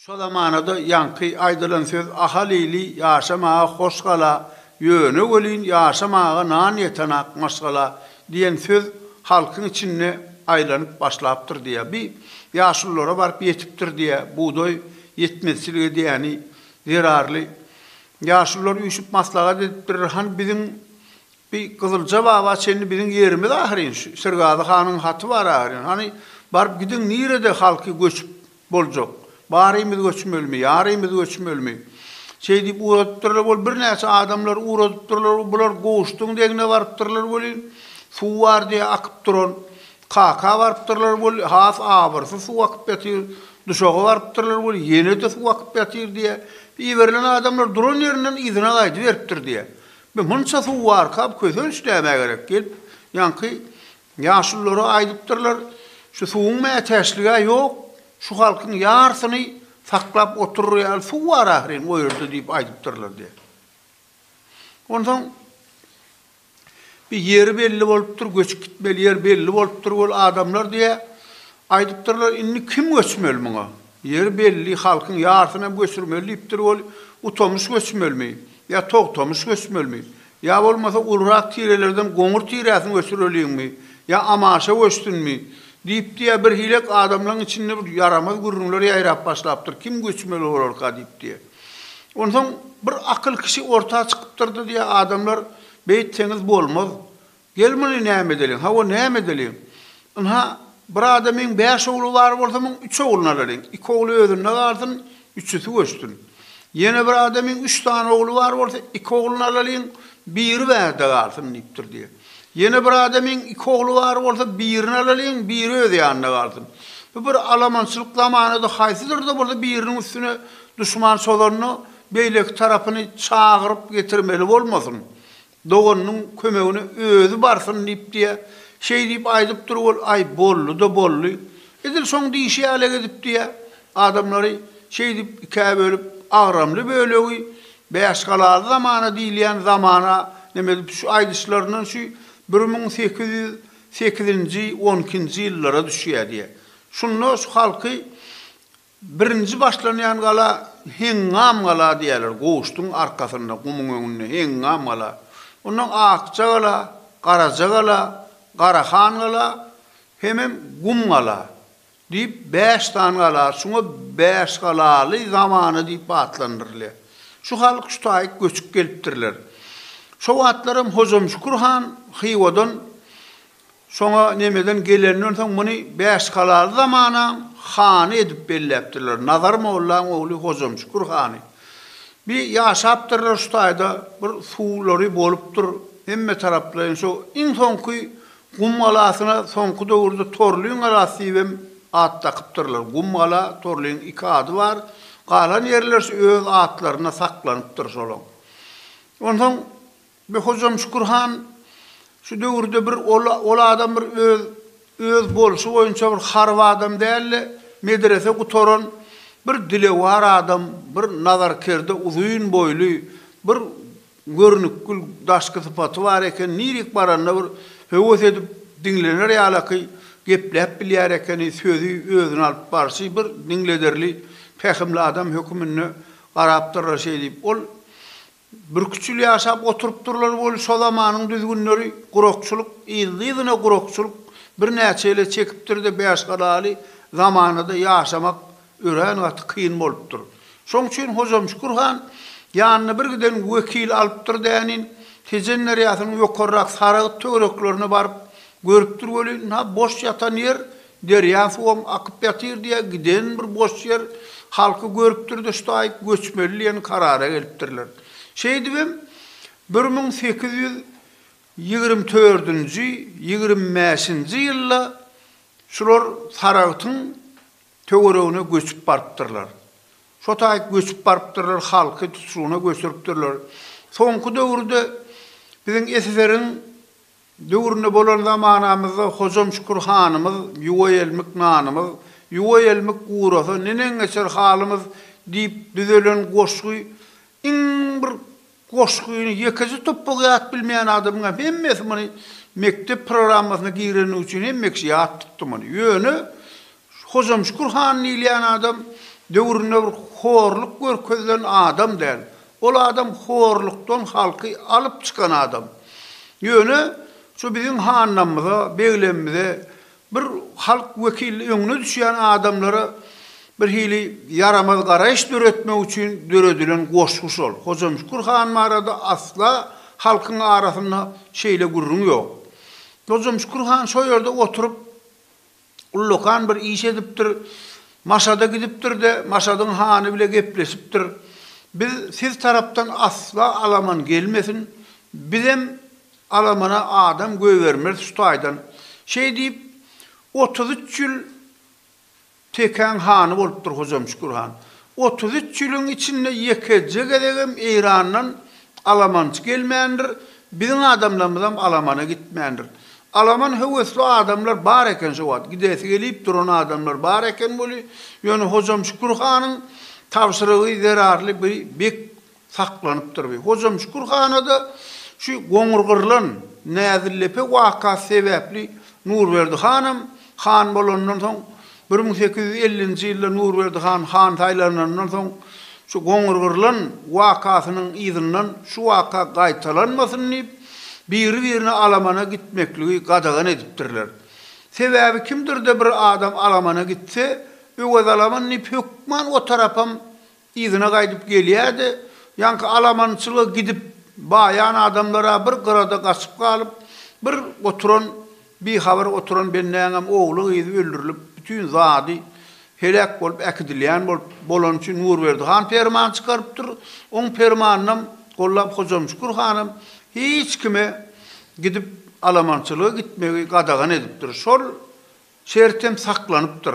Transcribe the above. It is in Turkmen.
Şo zamanada ýaňky aýdylan söz Ahal ili ýaşamaga hoş gala, ýöne welin ýaşamaga nan ýetenak maşgala diýen söz halkyň içinde aýlanyp başlapdyr diýýär. Bi ýaşululara baryp ýetipdir diýýär. Bugdaý ýetmezçilik edýäni zerarly. Ýaşulular üýşüp maslahat edipdirler, hany biziň Bi Gyzylja baba çenli biziň ýerimiz ahyryn, şu Sergazy hanyň haty bar ahyryn, hany baryp gidiň nirede halky göçüp boljak, barymyz göçmelimi, ýarymyz göçmelimi? Şeý diýip ugradypdyrlar wol birnäçe adamlar ugradypdyrlar bular goşduň degine barypdyrlar welin, suw bar diýýär akyp duran, kaka barypdyrlar wol has abyrsyz suw akyp ýatyr, duşaga barypdyrlar wol ýene-de suw akyp ýatyr diýýär, iberilen adamlar duran ýerinden yzyna gaýdyberipdir diýýär. Biz munça suw barka kösenç näme gerek gelip ýanky ýaşulylara aýdypdyrlar şu suwuň mätäçligä ýok şu halkyň ýarsyny saklap oturyr ýaly suw bar ahyryn o ýerde diýip aýdypdyrlar diýýär. Onsoň bir ýeri belli bolupdyr göçüp gitmeli ýer belli bolupdyr ol adamlar diýýär aýdypdyrlar indi kim göçmeli muňa Ýeri belli, halkyň ýarysynam göçürmeli diýipdir, ol utamyş göçmelimi? Ýa togtamyş göçmelimi? Ýa bolmasa ulurak tirelerden goňur tiräsini göçüreliňmi? Ýa amaşa göçsünmi? diýipdi-ä, birhilek adamlaryň içinde bir ýaramaz gürrüňler ýaýrap başlapdyr, kim göçmeli bolarka diýipdi. Onsoň bir akyl kişi orta çykypdyrdy-da, adamlar, beýtseňiz bolmaz, Gel muny näme edeliň? Hawa, näme edeliň? Ynha, bir adamyň bäş ogly bar bolsa, muň üç ogluny alalyň. Iki ogly özünde galsyn, üçüsi göçsün. Ýene bir adamyň üç sany ogly bar bolsa, iki ogluny alalyň, biri bärde galsyn diýipdir diýýär. Ýene bir adamyň iki ogly bar bolsa, birini alalyň, biri öz ýanynda galsyn. Bu bir alamançylyk zamanady, haýsydyr-da bolsa biriniň üstüne duşman çozanda, beýleki tarapyny çagyryp getirmeli bolmasyn. Doganynyň kömegine özi barsyn diýip diýýär. Şeý diýip aýdyp dur ol, Aý, boldy-da boldy. Edil şoň diýşi ýaly edip diýýär. Adamlary şeý diýip ikä bölüp, agramly bölegi Bäşgalaly zamana diýilýän zamana neme edip şu aýdyşlaryndan şu bir müň sekiz ýüz sekizinji, on ikinji ýyllara düşýär diýýär. Şunda şu halky Birinji başlanýan gala Heňňam gala diýerler, goşduň arkasynda, gumuň öňünde Heňňam gala. Ondan Akja gala, Garaja gala, Garahan gala hemem Gum gala diýip bäş sany gala, şuňa Bäşgalaly zamana diýip atlandyrylýar. Şu halk şu taýyk göçüp gelipdirler. Şo wagtlaram Hojamşükür han Hywadan Şoňa Nemeden gelenden soň muny Bäşgalaly zamanaň hany edip belläpdirler, Nazar mollaň ogly Hojamşükür hany. Bi ýaşapdyrlar şu taýda bir suwlary bolupdyr, hemme taraplaýyn şo iň soňky Gum galasyna soňky döwürde Torlyň galasy diýip hem at dakypdyrlar. Gum gala, Torlyň iki ady bar. Galan ýerler şu öz atlarynda saklanypdyr şolaň. Onsoň Be hojam Şükür han şu döwürde bir ol adam bir öz öz bolşy boýunça bir haryp adam dälde medrese gutaran bir dilewar adam bir nazar kerde uzyn boýly bir görnükgül daşky sypaty bar eken nirik baranda bir höwes edip diňlener ýalaky gepläp bilýär ekeni sözi özüni alyp barşy bir diňlederli pähimli adam höküminde garapdyrra şeýdip ol Bürküçül ýaşap oturypdyrlar weli şo zamanyň düzgünleri gurakçylyk yzly-yzyna gurakçylyk birnäçe ýyla çekipdir-de bäşgalaly zamanada ýaşamak örän gaty kyn bolupdyr. Şoň üçin Hojamşükür han ýanyna bir giden wekil alypdyr dänin, Tejen derýasynyň ýokarrak Saragyt töwereklerine baryp görüpdir welin-ha boş ýatan ýer Derýa suwam akyp ýatyr diýýär, giden bir boş ýer halky görüpdir-de, şu taýyp göçmeli diýen karara gelipdirler. Şeýdibem, bir müň sekiz ýüz ýigrimi dördünji, ýigrimi bäşinji ýylda şular Saragtyň töweregine göçüp barypdyrlar. Şo taýyp göçüp barypdyrlar, halky tutuşygyna göçüripdirler. Soňky döwürde biziň SSR-iň Döwründe bolan zamanamyzda Hojam Şükür hanymyz Ýuwaýelmik nanymyz, Ýuwaýelmik gurasa, neneň geçer halymyz diýip düzelen goşgy iň bir goşgyny ýekeje topbak ýat bilmeýän adamyň hem hemmesi muny mekdep programmasyna gireni üçin hemmeksi ýat tutdy muny. Ýöne Şu Hojamşükür han diýilýän adam döwründe bir horluk görkezilen adam däl. Ol adam horlukdan halky alyp çykan adam. Ýöne şu biziň hanlamyza, beglemimize bir halk wekili öňüne düşýän adamlara birhili ýaramaz garaýyş döretmek üçin döredilen goşgy şol. Hojamşükür han barada asla halkyň arasynda şeýle gürrüň ýok. Hojamşükür han şo ýerde oturyp Ullakan bir iş edipdir. Maşada gidipdir-de, Maşadyň hany bile gepleşipdir. Biz siz tarapdan asla alaman gelmesin, bizem alamana adam göýbermeris şu taýdan. Şeý diýip, otuz üç ýyl Tekäň hany bolupdyr Hojamşükür han. Otuz üç ýylyň içinde ýekeje gezegem Eýrandan alamançy gelmändir, biziň adamlarymyzam alamana gitmändir. Alaman höwesli adamlar bar eken şo wagt, gidesi gelip duran adamlar bar eken weli, ýöne Hojam Şükür hanyň tabşyrygy zerarly bir bek saklanypdyr we Hojamşükür hana-da şu goňurgyrylan Näzillepe wakasy sebäpli Nurberdi hanam han bolandan soň bir müň sekiz ýüz ellinji ýylda Nurberdi han han saýlanandan soň şu goňurgyrylan wakasynyň yzyndan şu waka gaýtalanmasyn diýip, biri-birine alamana gitmekligi gadagan edipdirler. Sebäbi kimdir-de bir adam alamana gitse, Öwezalaman diýip hökman o tarapam Yzyna gaýdyp gelýärdi. Ýaňky alamanyçylyga gidip baýan adamlar-a bir gyrada gaçyp galyp, bir oturan, bihabar oturan bendäňem ogly-gyzy öldürilip, bütin zady heläk bolup äkidilýän bolup, bolany üçin Nurberdi han perman çykarypdyr. Oň permanynam gollap Hojamşükür hanam hiç kime gidip alamanyçylyga gitmegi gadagan edipdir. Şol şertem saklanypdyr.